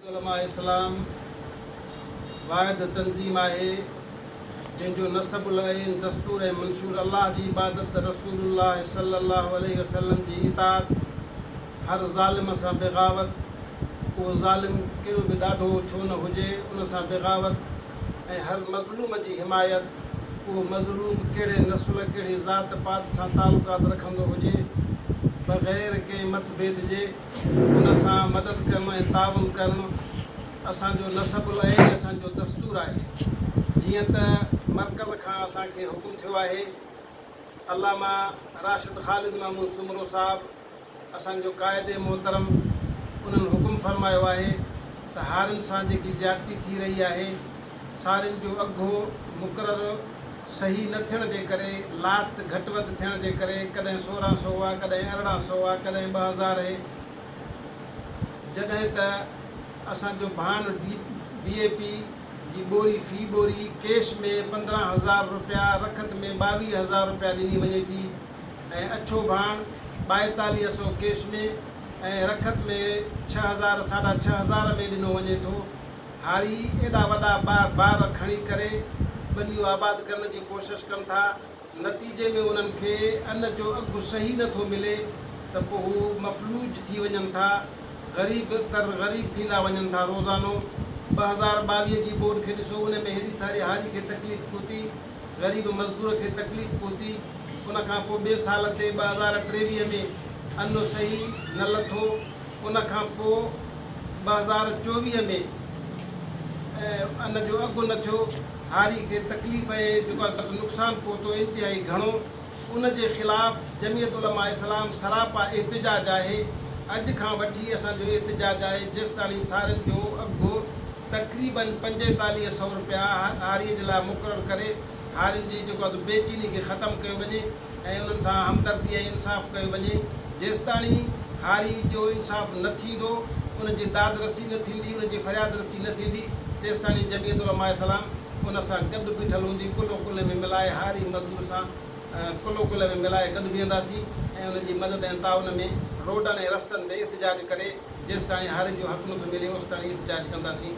علماء اسلام واحد تنظيم آهي جنهن جو نصب العين، دستور ۽ منشور الله جي عبادت، رسول الله صلي الله عليه وسلم جي اطاعت، هر ظالم سان بغاوت، اهو ظالم ڪيڏو به ڏاڍو ڇو نه هجي ان سان بغاوت ۽ هر مظلوم جي حمايت، اهو مظلوم ڪهڙي نسل، ڪهڙي ذات پات سان تعلقات رکندو هجي، بغير ڪنهن مٿڀيد جي. ان سان مدد ڪرڻ ۽ تعاون ڪرڻ اسان جو نسب العين ۽ اسان جو دستور آهي. جيئن ته مرڪز کان اسان کي حڪم ٿيو آهي. علامه راشد خالد محمود سومرو صاحب اسان جو قائد محترم انهن حڪم فرمايو آهي ته هارين سان جيڪي زيادتي ٿي رهي آهي سارين جو اگهو مقرر صحيح نه ٿيڻ جي ڪري، لاگت گهٽ وڌ ٿيڻ جي ڪري ڪڏهن سورهن سو هئا، ڪڏهن ارڙهن سو هئا، ڪڏهن ٻه هزار اهي. جڏهن ته اسان جو ڀاڻ ڊي ڊي اي پي جي ٻوري في ٻوري ڪيش ۾ پندرهن هزار روپيا رکت ۾ ٻاويهه هزار روپيا ڏني وڃي ٿي ۽ اڇو ڀاڻ ٻائيتاليهه سو ڪيش ۾ ۽ رکت ۾ ڇهه هزار ساڍا ڇهه هزار ۾ ڏنو وڃي ٿو. هاري ايڏا وڏا بار کڻي ڪري ٻنيون آباد ڪرڻ جي ڪوشش ڪن ٿا، نتيجي ۾ انهن کي ان جو اگهه صحيح نه ٿو ملي ته پوء هو مفلوج ٿي وڃن ٿا، غريب تر غريب ٿيندا وڃن ٿا روزانو ٻه هزار ٻاويهه جي ٻوڏ کي ڏسو ان ۾ هيڏي ساري هاري کي تڪليف پهتي. غريب مزدور کي تڪليف پهتي ان کان پوء ٻئي سال تي ٻه هزار ٽيويهه ۾ انو صحيح نه لٿو ان کان پوء ٻه هزار چوويهه ۾ ان جو اگهه نه ٿيو هاري کي تڪليف ۽ جيڪو اڄ تڪ نقصان پهتو انتهائي گهڻو ان جي خلاف جمعيت علماء اسلام سراپا احتجاج آهي اڄ کان وٺي اسان جو احتجاج آهي جيستاڻي سارين جو اگهه تقريباً پنجيتاليهه سئو رپيا هاريء جي لاء مقرر ڪري هارين جي جيڪو اڌ بي چيني کي ختم ڪيو وڃي ۽ انهن سان همدردي ۽ انصاف ڪيو وڃي جيستاڻي هاري جو انصاف نه ٿيندو ان جي داد رسي نه ٿيندي ان جي فرياد رسي نه ٿيندي تيستاڻي جمعيت علماء اسلام ان سان گڏ بيٺل هوندي ڪلهو ڪلهي ۾ ملائي هاري مزدور سان کلو کل ۾ ملائي گڏ بيهنداسين ۽ ان جي مدد ۽ تعاون ۾ روڊن ۽ رستن تي احتجاج ڪري جيستاڻي هارين جو حق نٿو ملي اوستاڻي احتجاج ڪنداسين.